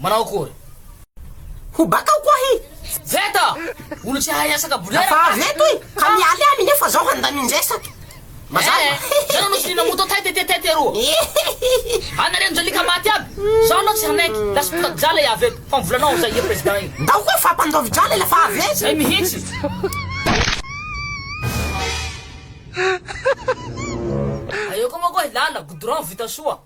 Manao akory? Ho bakao koa ahy. Veta! Olo tsy hahay asa ka bolera. Fa avy eto e! Ka mialy ahy minia fa zaho handamin-dresaka. Mazava. Eh! Zay no nosy nina moto tête tête tête eroa. Anareo no jalika maty aby. Zaho aloha tsy hanaiky. Lasa mpitady drala i avy eto. Fa ny volanao amin'izay ia president iny. Ndao koa fa mpandoavy drala ilay fa avy eto. Zay mihitsy. Aeo koa manko ahy lala, goudron vita soa.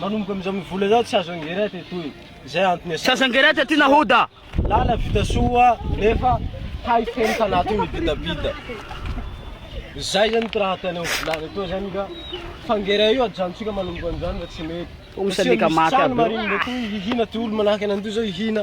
Manomboka amin'izao mi vola izao tsy azo engera ty toy izay antony asio. Tsy azo engera ty aty nahoda. Lala vita soa nefa hay feno tanaty io mibitabita. Zay zany ty raha ataonay ho volana etoa zany ka fangera io ajanontsika manomboka amin'izany fa tsy mety. Fa tsy misy trano marigny ndray toy hihina ty olo manahaka anay toy zao hihina.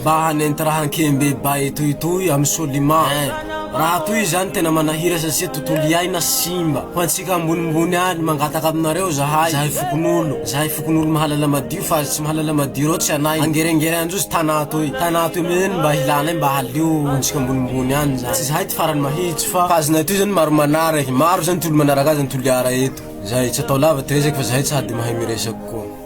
Mba hanenty raha an-kehimbe bay toy itoy am Solima eh! Raha toy izany tena manahira satsia tontolo iaina simba. Ho antsika ambonimbony any, mangataka aminareo zahay, zahay fokonolon, zahay fokonolon mahalala madio fa azy tsy mahalala madio ireo tsy anay angerengere anjosy Tana toy, Tana toy mihiny mba hilanay mba halio ho antsika ambonimbony any zany. Tsy zahay ty farany mahitsy fa. Fa azonay toy zany maro manara eh! Maro zany ty olo manaraka azy an Toliara eto. Zay, tsy atao lava ty resaky fa zahay tsy hady mahay miresaka koa.